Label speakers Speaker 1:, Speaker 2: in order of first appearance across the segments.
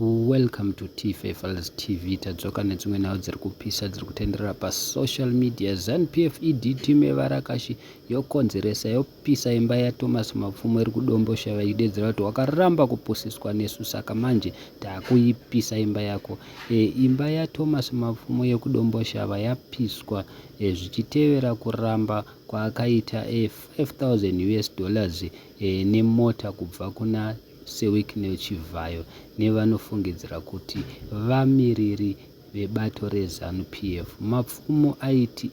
Speaker 1: Welcome to Tife Files TV. Tadzoka nedzimwe nhau dziri kupisa dziri kutenderera pasocial media. ZanuPF ED team yevarakashi yokonzeresa yopisa imba yaThomas Mapfumo iri kuDombosha vaidedzera kuti wakaramba kupusiswa nesu saka manje takuipisa imba yako. E, imba yaThomas Mapfumo yekuDomboshava yapiswa e, zvichitevera kuramba kwaakaita e, 5000 US dollars e, nemota kubva kuna seWicknell Chivhayo nevanofungidzira kuti vamiriri vebato reZanu PF. Mapfumo aiti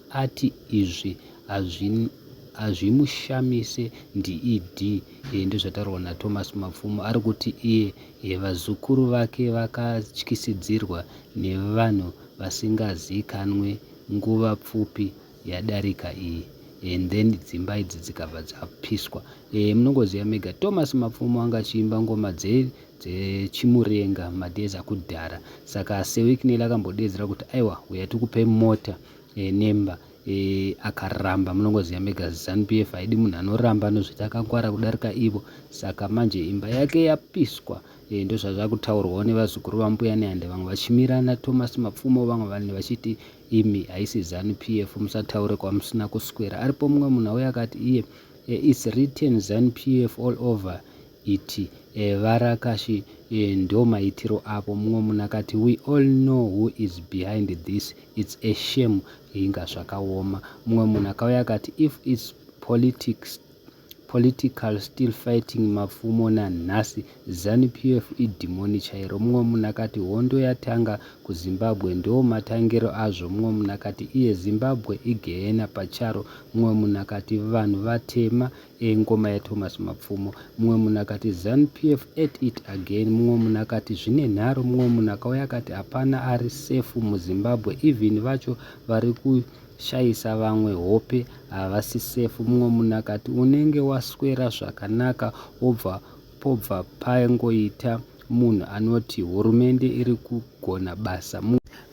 Speaker 1: ati izvi hazvimushamise DED ndozvataurwa naThomas Mapfumo ari kuti iye vazukuru vake vakatyisidzirwa nevanhu vasingazikanwe nguva pfupi yadarika iyi and then dzimba idzi dzikabva dzapiswa e, munongoziva mega thomas mapfumo anga achiimba ngoma dzechimurenga dze madhezi akudhara saka sewiknel akambodedzera kuti aiwa uya tikupe mota e, nemba e, akaramba munongoziva mega zanup f haidi munhu anoramba anozviti akangwara kudarika ivo saka manje imba yake yapiswa e, ndozvazvakutaurwawo nevazukuru vambuya nehande vamwe vachimirana thomas mapfumo vamwe vanhu vachiti imi haisi zanu pf musataure kwamusina kuswera aripo mumwe munhu auya akati iye e, its written zanu pf all over it e, eh, varakashi e, eh, ndo maitiro avo mumwe munhu akati we all know who is behind this its a shame inga zvakaoma mumwe munhu akauya akati if its politics Political still fighting mapfumo nanhasi zanu PF idhimoni chairo mumwe munhu akati hondo yatanga kuZimbabwe ndoo matangiro azvo mumwe munhu akati iye Zimbabwe igehena pacharo mumwe munhu akati vanhu vatema e ngoma yaThomas Mapfumo mumwe munhu akati zanu PF at it again mumwe munhu akati zvine nharu mumwe munhu akauya akati hapana ari safe muZimbabwe even vacho vari ku shaisa vamwe hope havasi safe mumwe munhu akati unenge waswera zvakanaka obva pobva pangoita munhu anoti hurumende iri kugona basa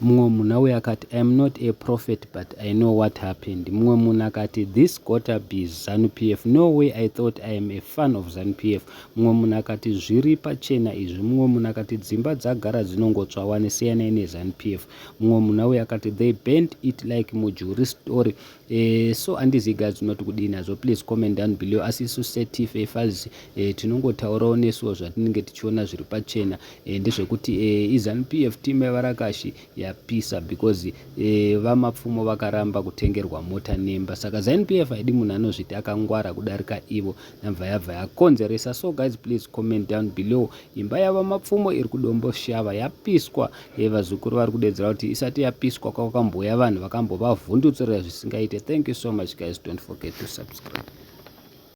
Speaker 1: mumwe munhu auye akati iam not a prophet but i know what happened mumwe munhu akati this gota bes zanu p f no way i thought i am a fan of zanu p f mumwe munhu akati zviri pachena izvi mumwe munhu akati dzimba dzagara dzinongotswa wani siyanai nezanu p f mumwe munhu auye akati they bent it like mujuri story eh, so andizi guys unoti kudii nazvo please comment down below asi isu setf efaz eh, tinongotaurawo nesuwo zvatinenge tichiona zviri pachena eh, ndezvekuti eh, izanp f team yevarakashi yapisa because eh, vamapfumo vakaramba kutengerwa mota nemba saka zanp f haidi munhu anozviti akangwara kudarika ivo nabva yabva yakonzeresa so guys please comment down below Imba yaVaMapfumo iri kuDomboshava yapiswa dai vazukuru vari kudedzera kuti isati yapiswa kwakambouya vanhu vakambovavhundutsurira zvisingaite. Thank you so much guys, don't forget to subscribe.